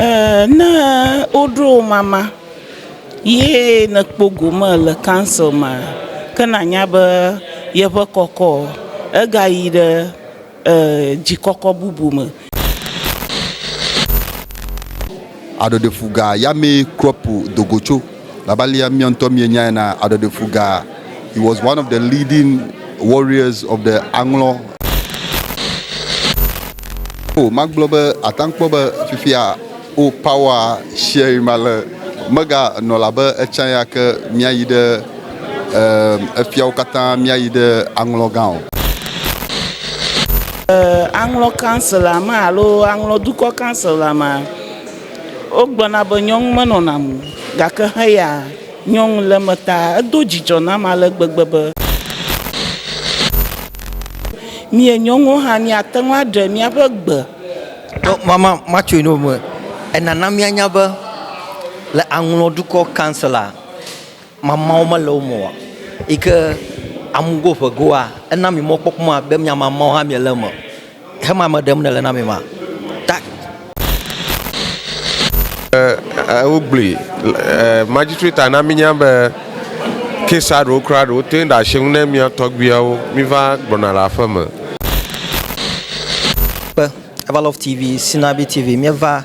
Eeeee ne woɖo wò mama ye nèkpɔ gome le kansel mea, ke nànya be yeƒe kɔkɔ egayi ɖe ee dzikɔkɔ bubu me. Aɖɔɖefuga yamee Kropo do go tso. Labe alea mia ŋutɔ mienyae ena, aɖɔɖefuga, he was one of the leading warriors of the Aŋlɔ. Oh, magblɔ be ate ŋu kpɔ be fifia, oh, power sharing ma le, mega nɔ labe etsã ya ke miayi ɖe. Ɛɛ, efia wo katã míayi ɖe aŋlɔgã o. Ɛɛ, aŋlɔ kansela me alo aŋlɔ dukɔ kansela me, wogblɔna be nyɔnu menɔna mo gake heya nyɔnu le eme ta edo dzidzɔ nam ale gbegbe be, mie nyɔnuwo hã míate ŋu aɖe míaƒe gbe. Ɖo mama matsoe no me. Enana míanya be le aŋlɔ dukɔ kansela. Mamãwo mele wo me oa? Yi ke amugo ƒe goa, ena mi mɔkpɔkpɔ ma be mia mamãwo hã miele eme o. Hema me ɖem nele na mi ma. Ta. E, wo gblui. E, magistrate a na mi nya be kesa ɖewo kura ɖewo te ɖe ashe ŋu ne mia tɔgbuiawo mi va gbɔna le aƒe me. Kpe, Evalove TV, Sinabi TV, mia va.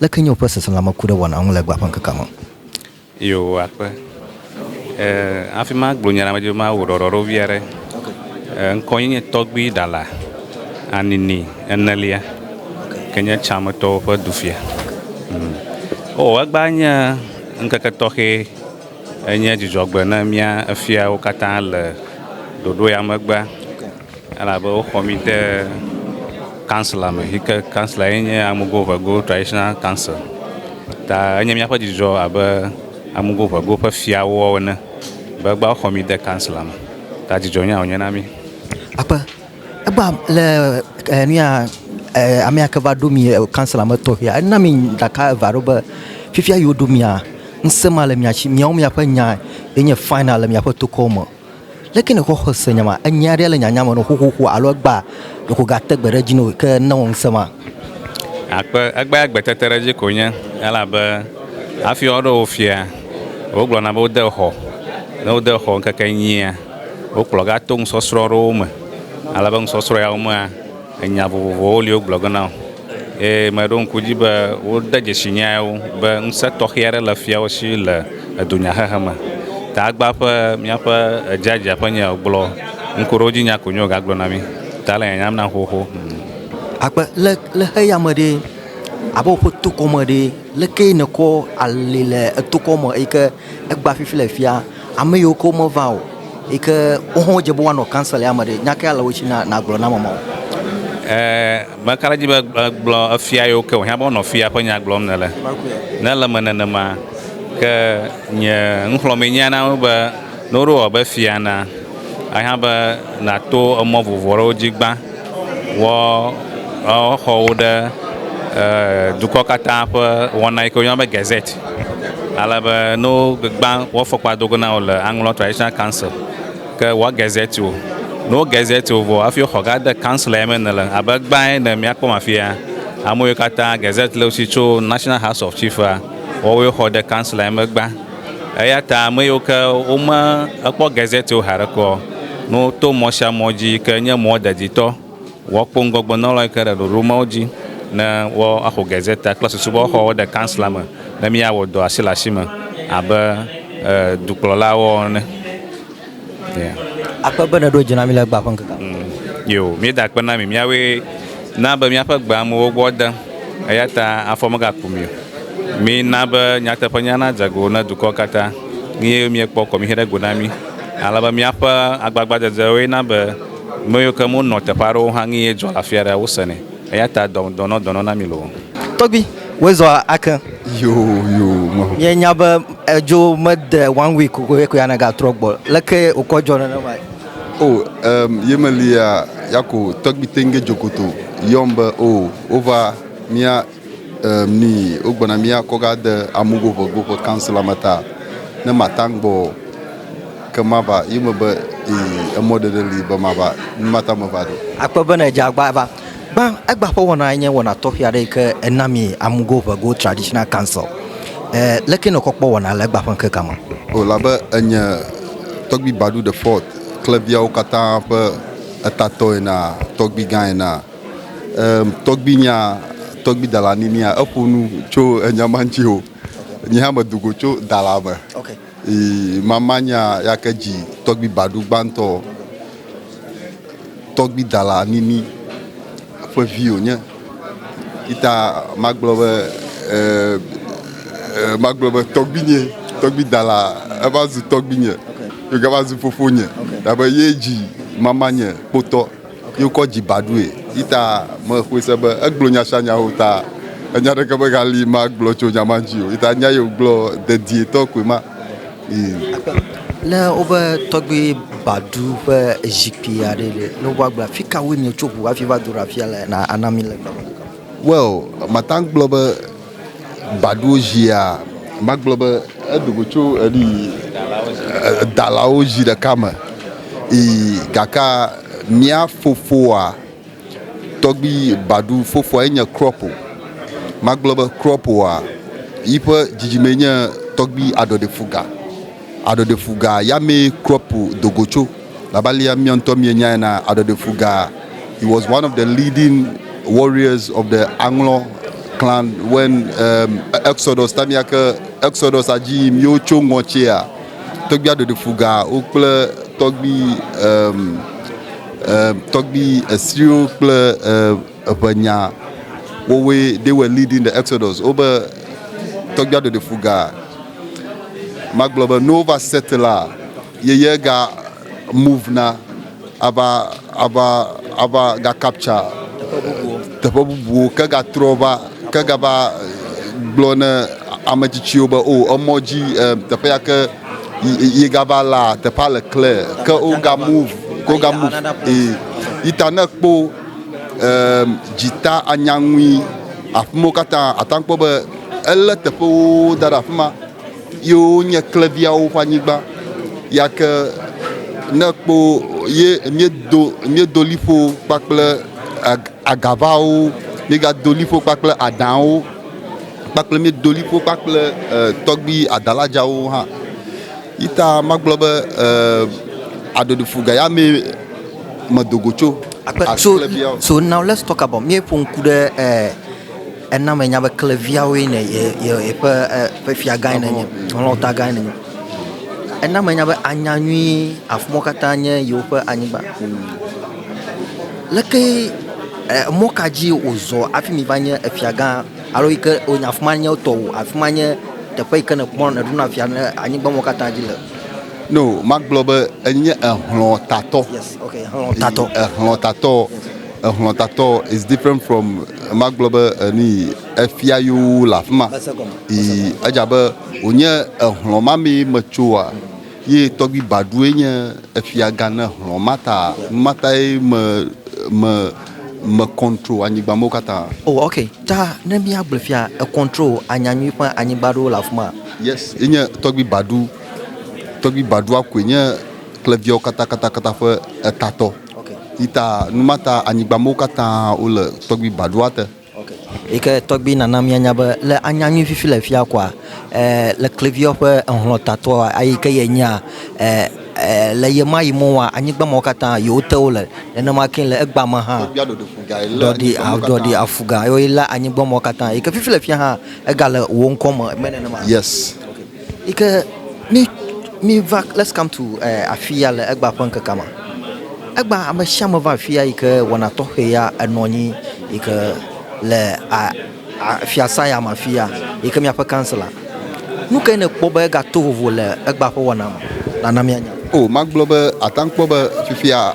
Leke nye woƒe seselãme ku ɖe wɔna ŋu le egbea ƒe ŋkekea me? Eye wòva kpe. E, hafi magblɔ nya la me dzi be mawu ɖɔɖɔ ɖo vi aɖe. E, ŋkɔ nye nye tɔgbui Ɖala Anini enelia, ke nye Tsametɔwo ƒe dufia. Mm. O, egbea nye ŋkeke tɔxɛ. Enye dzidzɔgbe ne mía efiawo katã le ɖoɖo ya megbea. Elabe woxɔ mí de kansla me yi ke kansla ye nye Amugoʋego Traditional Council ta enye míaƒe dzidzɔ abe Amugoʋego ƒe fiawo ene be egbea woxɔ mí de kansla me ta dzidzɔ nya wònye na mí. Akpe, egbea le e nuya e amea ke va ɖo mí kansla me tɔxɛa ena mí ɖaka eve aɖewo be fifia yi woɖo mía ŋusẽ ma le mía si. Míawo míaƒe nya ye nye final le míaƒe tokɔ me. Leke nèxɔ xɔse nye ma? Enye aɖe le nyanya me nɔ xoxoxo alo egbea ɖeko gate gbe ɖe edzi nɔ gake newɔ ŋusẽ ma? Akpe, egbea gbe tete ɖe edzi ko nye elabe hafi woaɖo wò fia, wogblɔna be wode xɔ. Ne wode xɔ ŋkeke enyia, wokplɔ gato nusɔsrɔ̃ aɖewo me alebe nusɔsrɔ̃ yawo mea, Nya vovovowo li wogblɔ ge nam eye meɖo ŋku edzi be wode dzesi nyae wo be ŋusẽ tɔxɛ aɖe le fiawo si le dunyahehe me. Tagbaa ƒe míaƒe edziadzia ƒe nya gblɔ ŋkuɖodzinya ko nyo wògagblɔ na mí. Ta le nyanyam nam xoxo. Akpe le le xeya me ɖe abe woƒe tokɔ me ɖe lekee nèkɔ ali le etokɔ me eyike. Egbea fifi le fia ame yiwo ke womeva o yi ke wo hã wodze be woanɔ council ya me ɖe, nya kae le wo si na nàgblɔ na ame mawo? Mele ka ɖe edzi be gblɔ efia yiwo ke wòhiã be wonɔ fia ƒe nya gblɔm nèle. Ne ele eme nenema ke nye nuxlɔ̃mee nya na wo be ne woɖo wɔ be fia na, ehiã be nàto emɔ vovovo aɖewo dzi gbã. Woxɔ wo ɖe dukɔ katã ƒe wɔna yi ke woyɔna be gazette. Ale be ne wogbã woƒe afɔkpa do go na wò le aŋlɔ traditional council ke woa gazette wò. Ne wo gazette wò vɔ hafi woxɔ gade council ya me nèle abe egbã ene yi míakpɔm afia, ame yiwo katã gazette le wo si tso national house of chief a woawoe xɔ de council ya me egbã. Eya ta ame yiwo ke wome ekpɔ Gazette wo haɖe kɔ no to mɔ sia mɔ dzi ke nye mɔ deditɔ wɔ kpo ŋgɔgbe nɔlɔ yi ke ɖe ɖoɖo mawo dzi ne wɔ axo Gazette kple susu be woaxɔ wo ɖe kansla me ne mía wɔ dɔ asi le asi me abe dukplɔla wɔ ene. Akpe be nèɖo dzi na mí le egbea ƒe ŋkekea me. Yoo, míeda akpe na mi, míawoe na be míaƒe gbe amewo gbɔ de, eya ta afɔ megaku mi o. Mina be nyateƒenya nadze go na dukɔwo katã, eye miekpɔ kɔmixe ɖe go na mí, ale be míaƒe agbagbadzedzewoe na be ame yiwo ke menɔ teƒe aɖewo hã nu ye dzɔ le afi aɖea, wosenɛ. Eya ta dɔ, dɔnɔ, dɔnɔ na mi loo. Tɔgbi, woe zɔ ake. Yoo, yoo, mɔ. Mie nya be edzo me de one week o ye ko ya na ga trɔ gbɔ. Leke okɔ dzɔ nenema yi. O, emm, ye me li ya, ya ko tɔgbi teŋge dzo koto yɔm be o, wo va, mia, emm, ni wo gbɔna mia kɔ ga de amugo ƒe go ƒe council la me ta ne ma ta ŋgbɔ. Ke mava yi me be, Ii, emɔ ɖeɖe li be mava, nu ma ta meva ɖo. Akpɔe bene edze agba va. Gbã, egba ƒe wɔna nye wɔna tɔxɛ aɖe yi ke ena mi Amugo ʋe Go Traditional Council. E, leke nèkpɔ kpɔ wɔna le egba ƒe ŋkekea me? O, elabe enye Tɔgbui Badu de Ford kple viawo katã ƒe etatɔ enea, tɔgbui gã enea, e, tɔgbui nya, tɔgbui Dala Ninia, eƒo nu tso enya ma ŋuti o. Nye hã medo go tso Dala me. Ok. Ii, mama nya yake dzi tɔgbi baɖu gbãtɔ tɔgbi dala nini ƒe vi wònye. Yita magblɔ be ɛɛ magblɔ be tɔgbinye, tɔgbi dala eva zu tɔgbinye. Yogava zu fofonye. Dabe ye dzi mamanye kpotɔ. Yi wokɔ dzi ba ɖoe. Yi ta mexɔe se be egblɔ nya sia nya o ta enya aɖeke megali magblɔ tso nya ma ŋuti o. Yi ta nya yi wògblɔ dedietɔ koe ma. Ii. Ne wobe tɔgbui ba ɖu ƒe zikpui aɖee ɖe, ne wova gblɔ be, Fi kawoe mietso ŋu hafi va do ɖe afia le na ana mi le gbe me? Well, mate ŋu agblɔ be. baɖowo zia magblɔ be eɖo go tso enu yi edalawo zi ɖeka me yi gaka mía fofoa tɔgbi baɖu fofoa enye krɔpo magblɔ be krɔpoa yiƒe dzidzime enye tɔgbi aɖɔɖefuga Aɖɔɖefuga yamee Kropo do go tso. Labe alea mia ŋutɔ mienyae ena, aɖɔɖefuga, he was one of the leading warriors of the Aŋlɔ clan when um, Exodus, time ya ke Exodus a dzi yim ye wotso ŋɔ tsia, tɔgbui aɖɔɖefuga wo kple tɔgbui um, um, tɔgbui Esriwo kple um, Eƒe nya wowoe they were leading the exodus wobe tɔgbuia ɖeɖe fu ga magblɔ be no va set la yeye ga move na ava ava ava ga capture teƒe bubuwo ke ga trɔ va ke ga va gblɔ ne ame tsitsiwo be o oh, emɔ dzi teƒe ya ke yi ga va la teƒe le clear ke o ga move ko ga move e ita ne kpo Eem, dzita anya ŋui. Aƒemewo katã ata kpɔ be elé teƒewo da ɖe afi ma ye wonye kleviawo ƒe anyigba. Yake ne kpo ye miedo miedo liƒo kpakple agavawo, miegado liƒo kpakple adãwo kpakple miedo liƒo kpakple e, tɔgbi adaladzawo hã. Yita magblɔ be e, aɖoɖofu gayame medo go tso akleviawo. So, so now let's talk about míeƒo ŋku ɖe eh, ena me nya be kleviawoe ne yeƒe ƒe fia gã ne nye lɔta gã ne nye. Ena me nya be anya nyui afumɔ katã nye yewoƒe anyigba. Leke eh, mɔ ka dzi wòzɔ afi mi va nye efia gã alo yi ke wònya afuma nye tɔwò afuma nye teƒe yi ke nekpɔ neɖuna fia ne anyigba mɔ katã dzi le. No, magblɔ be enye ehlɔ̃tatɔ. Yes, okay, ehlɔ̃tatɔ. Ehlɔ̃tatɔ, ehlɔ̃tatɔ is different from magblɔ be eni efia yewo le afi ma. Ii, edze abe wònye ehlɔ̃ ma mee metsoa ye tɔgbi Badue nye efiagã ne hlɔ̃ ma ta nu ma tae me me me control anyigba mewo katã. Oh, okay, ta ne míagblɔ fia e control anyanyui ƒe anyigba ɖewo le afi ma. Yes, enye tɔgbi Badu. Tɔgbi Baɖua koe nye kleviawo katã katã katã ƒe etatɔ. Okay. Yi ta nu ma ta anyigbamewo katã wole tɔgbi Baɖua te. Okay. Yi ke tɔgbi nana mianya be le anya nyui fifi le fia koa e, le kleviawo ƒe ehlɔ̃ tatɔa ayi ke ye nyea e, e, le ye ma yi mɔa anyigbamewo katã yewo te wole nenema ke le egba me hã. Tɔgbia ɖɔɖi fuga yi le ɖɔɖi anyigbamewo katã. Ɖɔɖi afuga yewo yi le anyigbamewo katã. Yi ke fifi le fia hã ega le wo ŋkɔ me me nenema. Yes. Okay. Yi ke mí, míva, let's come to eh, afi ya le egbea ƒe ŋkekea me. Egbea ame sia ame va afi ya yi ke wɔna tɔxɛ ya enɔ anyi yi ke le a, a, fiasa ya me afi ya yi ke míaƒe councilor. Nu kae nèkpɔ be egato vovo le egbea ƒe wɔna me? Nana míanya. O, magblɔ be àte ŋu akpɔ be fifia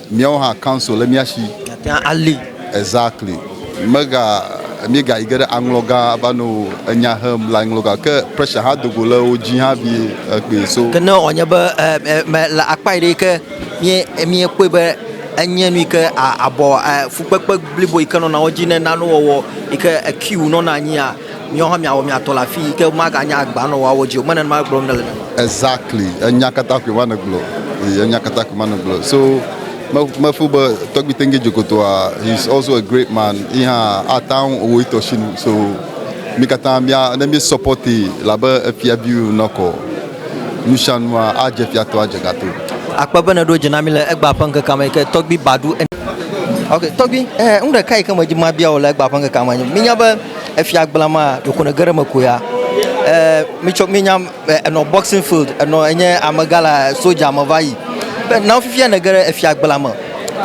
Míawo hã council le mía shi. Miate ŋu ali. Exactly. Mega míegayi ge ɖe aŋlɔ gã va nɔ enya hem le aŋlɔ gã ke pressure hã do go le wo dzi hã vie ekpee so. Ke ne wòanye be me le akpa yi ɖe ke mie miekpɔe be enye nu yi ke abɔ fukpekpe blibo yi ke nɔna wo dzi ne nanewo wɔwɔ yi ke ekiu nɔna anyia. Miawo hã miawɔ mia tɔ le afi yi ke womaganye agba nɔ woawo dzi o. Menye nenema gblɔm nèle nene. Exactly enya kata koe va nɔ gblɔ ye enya kata koe va nɔ gblɔ so me me feel be tɔgbi tenge dzokotoa he is also a great man yi hã ataŋu owɔ etɔ si nu so mi kata mia ne mi support ye labe efia bi wo nɔ kɔ nusianua a dze fia to a dze gato. Akpe be nèɖo dzi na mí le egbea ƒe ŋkekea me yi ke tɔgbi Badu ene. Ok tɔgbi eh nu ɖeka yi ke me dzi mabia wò le egbea ƒe ŋkekea me nye be minya be. Efia gbla ma ɖeko ne geɖe me ko ya. Eh, mi tsɔ mi nyam eh, enɔ boxing field, enɔ enye amega la soja me va yi. Be na fifia ne geɖe efia gbla me.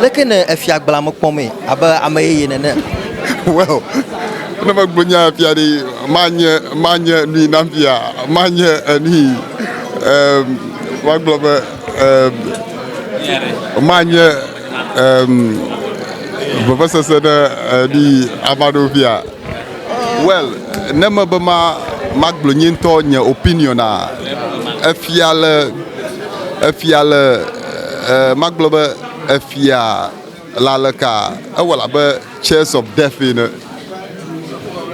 Leke ne efia gbla me kpɔ me abe ame yeye nene. Well, ne me gbo nya efia ɖe ma nye ma nye nui na fia, ma nye enui. Eh, ma gblɔ be eh, ma nye vevesese ɖe eɖi ava ɖo via well ne me be ma magblɔ nye ŋutɔ nye opinion a efia le efia le magblɔ be efia le aleka ewɔ abe chairs of death ene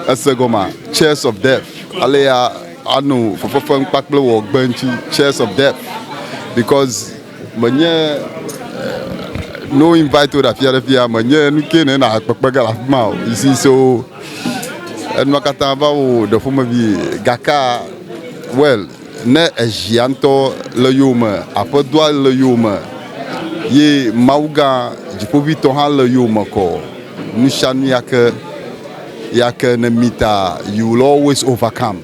ese gɔmea chairs of death alea ano fefefem kpakple wɔ gbe ŋti chairs of death because menye no invite wo ɖe afia ɖe fia menye nu ke ne na kpekpe ge le afi ma o you see so enua katã va wo ɖe ƒomevi gaka well ne ezia ŋutɔ le yowome aƒedɔa le yowome ye mawu gã dziƒoʋitɔ hã le yowome kɔ nu sia nu yake yake ne mi ta you will always overcome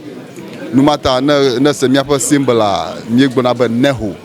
nu ma ta ne ne se míaƒe simbla míegblɔna be neho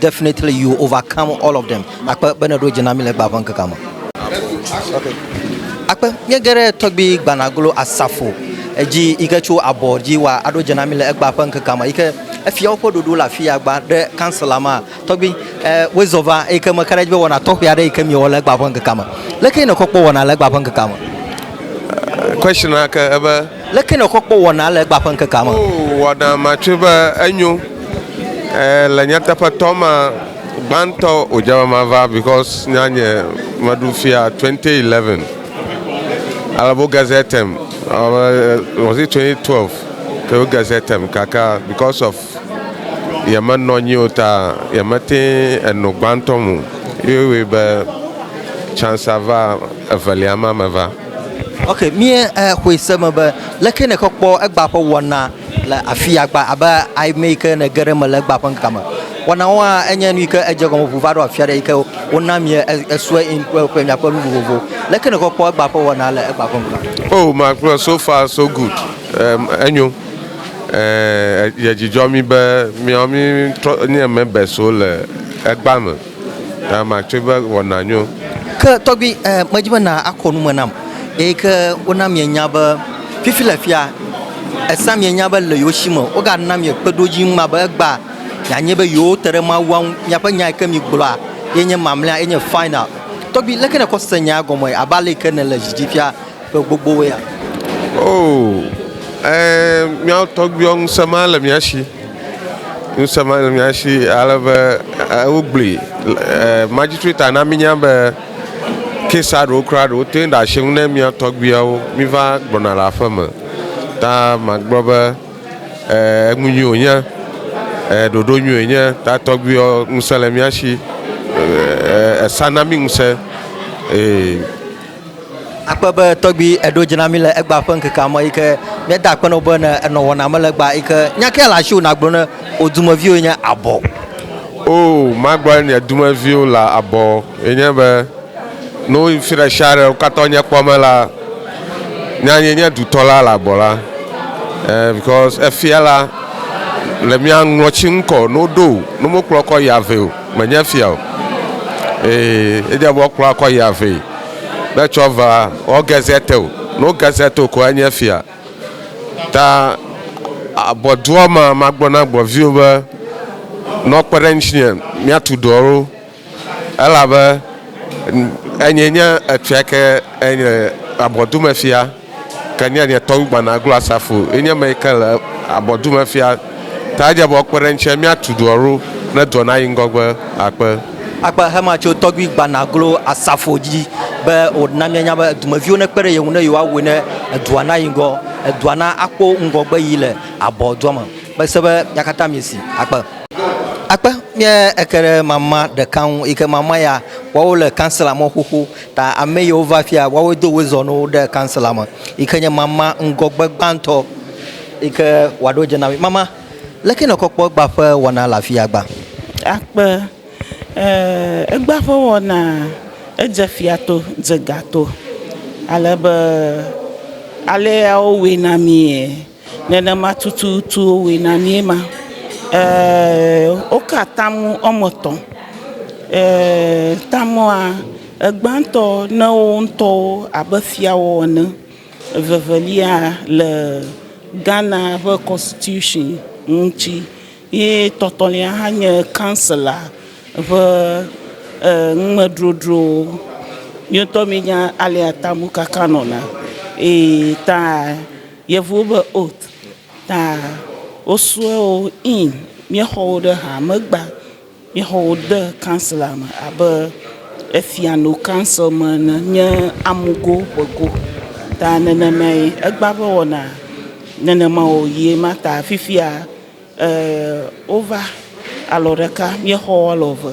Definitely you will overcome all of them. Akpe be nèɖo dzi na mí le gbea ƒe ŋkekea me. Akpe, míege ɖe tɔgbi gbanaglo asafo dzi yi ke tso abɔ dzi wa aɖo dze na mí le egbea ƒe ŋkekea me yi ke efiawo ƒe ɖoɖo le afi ya gbã ɖe kansela ma. Tɔgbi, eh, woe zɔ va eyi ke meka ɖe edzi be wɔna tɔxɛ aɖe yi ke miewɔ le egbea ƒe ŋkekea me. Leke nèkpɔ kpɔ wɔna le egbea ƒe ŋkekea me? Question na ke ebe. Leke nèxɔ kpɔ wɔnaa le egbea ƒe ŋkekea me? Oo, wɔna ma tsɔe be enyo. Ẽ, le nyateƒetɔ ma, gbãtɔ wòdze be mava because nya nye meɖu fia 2011. Ale be wo gazettem, was it 2012 ke wo gazettem gake because of yemenɔ anyi o ta yemete eno gbãtɔ me o. Ye wɔe be chance va evelia ma meva. Ok, mie eh, xɔe se me be leke ne kɔkpɔ egba ƒe wɔna le afi agba abe ame yi ke ne ge ɖe me le egba ƒe ŋkeke me. Wɔna wɔa enye nu yi ke edze gɔme ʋu va ɖo afi aɖe yi ke wona mie esue in kple ƒe miakpɔ nu vovovo. Leke ne kɔkpɔ egba ƒe wɔna le egba ƒe ŋkeke me. Oh, makplɔ so far so good. Um, enyo. Eh, ye dzidzɔ mi be miawo mi trɔ nye members wo le egba me. Ta ma tsoe va wɔ na nyo. Ke tɔgbui e, medi be na a kɔ nume nam. Eyi ke wo na mie nya be fifi le fia e sa mie nya be le yewo si me wo ga na mie kpe ɖodzi ŋu ma be egba mia nye be yewo te ɖe Mawua ŋu. Miaƒe nya yi ke mi gblɔa ye nye mamlea, ye nye final. Tɔgbui leke ne kɔ se nyaa gɔme abe ale yi ke ne le dzi dzi fia. Ƒe gbogbowoea? Oo, ẽ, míawo tɔgbuiwo ŋusẽ ma le mía si. Ŋusẽ ma le mía si ale be e wogblɔe e Magistrate na mínya be case-a ɖewo kura ɖewo te ŋu ɖe asi ŋu ne mía tɔgbuiawo míva gbɔna le aƒe me. Ta magblɔ be e enu nyui wònye, e ɖoɖo nyui wònye. Ta tɔgbuiwo ŋusẽ le mía si e e esa na mí ŋusẽ. Ee. Akpe be tɔgbi eɖo dzi na mi le egba ƒe ŋkeke amɔ yi ke míeda akpe nɔ be ne enɔ wɔna me le egba yi ke nya ke le asi wò nagblɔ ne wò dumeviwo yi nye abɔ. O magblɔ nye dumeviwo le abɔ yi nye be ne woyi fi ɖe sia ɖe wo katã wonye kpɔ me la nya yi nye dutɔ la le abɔ la e because efia la le mía ŋɔti ŋkɔ ne woɖo ne womekplɔ kɔ yi ave o. Menye fia o. Ee, edze be woakplɔ akɔ ya vɛ be tsɔ va wɔ gezete o. Ne wo gezete o ko enye fia. Ta abɔdua ma magblɔ na gbɔviwo be ne wokpe ɖe ŋutinye míatu dɔ ɖo elabe enye nye efia ke enye abɔdumefia. Ke nya nye tɔn gbana glo asafo ye nye me ke le abɔ du me fia ta je bɔ kpe ɖe ŋtse mi atu duɔ ro ne duɔ na yi ŋgɔgbe akpe. Akpe hama tso tɔgbi gbana glo asafo dji be wo na mia nya be edu me viwo ne kpe ɖe ye ŋu ne yewoa woe ne edua na yi ŋgɔ edua na akpo ŋgɔgbe yi le abɔ dua me be se be mia kata mi si akpe. Akpe mia eke ɖe mama ɖeka ŋu yi ke mama ya woa wo le kansela mɔ xoxo Ta ame yiwo va fia woawoe do woe zɔnuwo ɖe kansela me yi ke nye mama ŋgɔgbe gbãtɔ yi ke wòaɖo dze na mí. Mama, leke nèkɔ kpɔ egbea ƒe wɔna le afia gbã? Akpe, Ɛɛ, egbea ƒe wɔna edze fia to, dze ga to ale be alea wowɔe na míe. Nenema tututu wòwɔe na míe ma. Eeee woka atam woame etɔ̃, eeee tamea, egbãtɔ ne wo ŋutɔwo abe fiawo ene, evevelia le Ghana ƒe kɔnstitution ŋuti ye etɔ̃tɔ̃lia hã nye kansela ƒe numedrodro. Míawo ŋutɔ míenya alea tam wokaka nɔna eye ta. Yevuwo be oath ta wosue wo in míexɔ wo ɖe ha megba míexɔ wo de council me abe efia no council me ene nye amugo ƒego ta nenema ye egba ƒe wɔna nenema wo ye ma ta fifia eh, wova alɔ ɖeka míexɔ alɔ ve.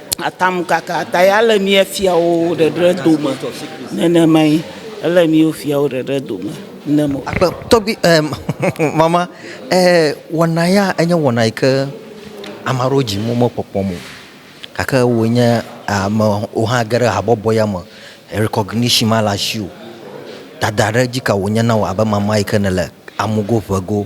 Atamkaka tae ale mía fiawo ɖeɖe dome nenemae. Ele mía fiawo ɖeɖe dome nenema. Akpe tɔgbi em mama e wɔna ya enye wɔna yi ke ame aɖewo dzi wo mekpɔkpɔm o gake wò nye amewo hã ge ɖe habɔbɔ ya me rekɔgnishin ma le asiwò. Dada ɖe dzi ka wònye na wò abe mama yi ke nèle amugo ŋego.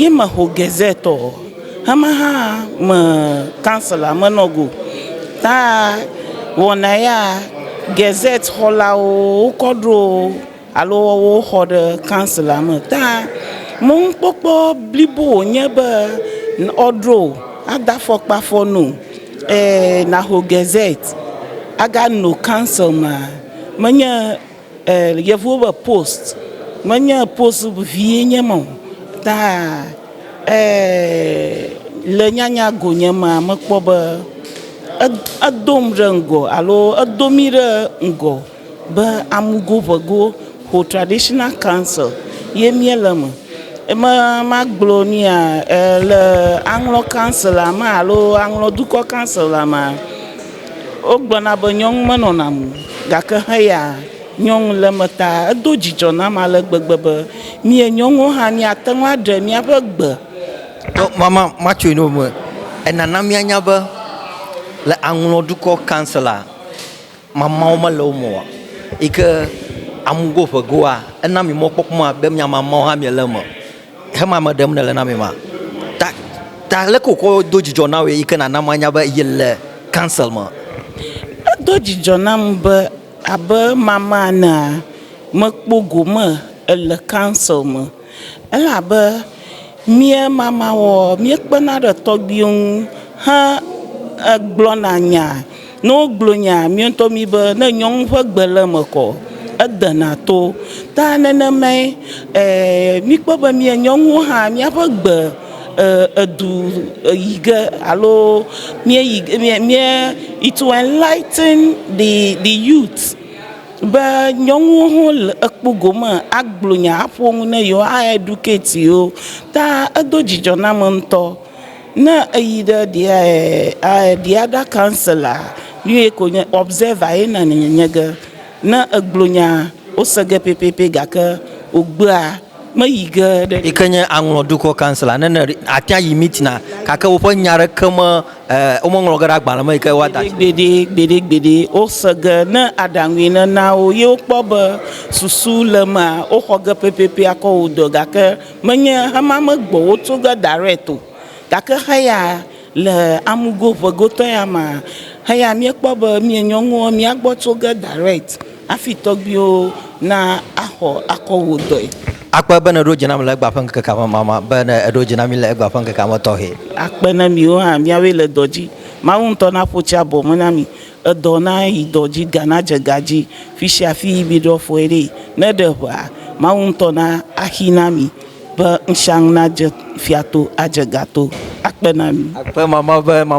Ye me ho Gazette ɔ, hamɛha me council a me nɔ go. Ta wɔna ya Gazette xɔlawo wo kɔ ɖo alo wɔ wo xɔ ɖe council a me. Ta me ŋ kpɔkpɔ blibo wo nye be ɔ ɖo a da fɔkpa fɔ no e na ho Gazette a ga no council ma me nye. Yevuwo be post menye post vie nye me o ta le nyanya go nye mea mekpɔ be edo nu ɖe ŋgɔ alo edo mí ɖe ŋgɔ be amugo ŋego ƒo traditional council ye mía le eme. Eme magblɔ nu ya le aŋlɔ council mea alo aŋlɔ dukɔ council mea. Wogblɔna be nyɔnu menɔna mo o, gake heya nyɔnu le eme ta. Edo dzidzɔ nam ale gbegbe be mie nyɔnuwo hã míate ŋu aɖe míaƒe gbe. Mama matsoe ne wome. Enana míanya be le Aŋlɔ dukɔ kanselaa, mamawo mele wo me o yi ke amugo ƒe goa, ena mi mɔkpɔkpɔ be mia mamawo hã miele eme. Hemame ɖem nèle na amea? Ta, ta aleke wòkɔ do dzidzɔ na wòe yi ke nàna manya be yele council me? Edo dzidzɔ nam be abe mama enea, mekpɔ gome ele council me. Elabe mía mamawɔwɔ, míekpena ɖe tɔgbuiwo ŋu he egblɔna nya. Ne wogblɔ nya mía ŋutɔ mí be ne nyɔnu ƒe gbe le eme kɔ, edena to. Ta nenemae míkpɔ be mía nyɔnuwo hã míaƒe gbe edu yi ge alo míeyi ge mía mía it will enlighten the the youth be nyɔnuwo hã le ekpo gome agblɔ nya aƒo nu na yewo a educate yewo ta edo dzidzɔ na ame ŋutɔ. Ne eyi ɖe ɖia ɛɛ ɖia ɖa kansela ye ko nye observer ye na nye nye ge ne eglo nya wose ge pɛpɛpɛ gake ogbea me yi ge ɖe. Yi ke nye aŋlɔ dukɔ kansela ne ne atia yi meeting a gake woƒe nya ɖeke me ɛɛ wome ŋlɔ ge ɖe agbalẽ me yi ke woa da tsi. Gbeɖe gbeɖe gbeɖe gbeɖe wose ge ne aɖaŋue ne na wo ye wokpɔ be susu le emea woxɔ ge pɛpɛpɛ akɔ wo dɔ gake. Menye hamea me gbɔwo tso ge direct o, gake heya le amugo ŋe gotɔ ya ma, heya míekpɔ be mía nyɔnuwo mía gbɔ tso ge direct hafi tɔgbuiwo na axɔ akɔ wò dɔe. Akpe be nèɖo dzi nam le egbea ƒe ŋkeke amamama, be nèɖo dzi na mí le egbea ƒe ŋkeke ametɔxɛ. Akpe na miwo hã, miawoe le dɔ dzi. Mawu ŋutɔ naƒo tsi abɔ me na mi, Edɔ na yi dɔ dzi ga na dze ga dzi fisia fi yi mi ɖɔ fɔe ɖe ne ɖe ʋea Mawu ŋutɔ na axi na mi be ŋshaŋ na dze fia to adze ga to akpe na mi. Akpe mama be mama.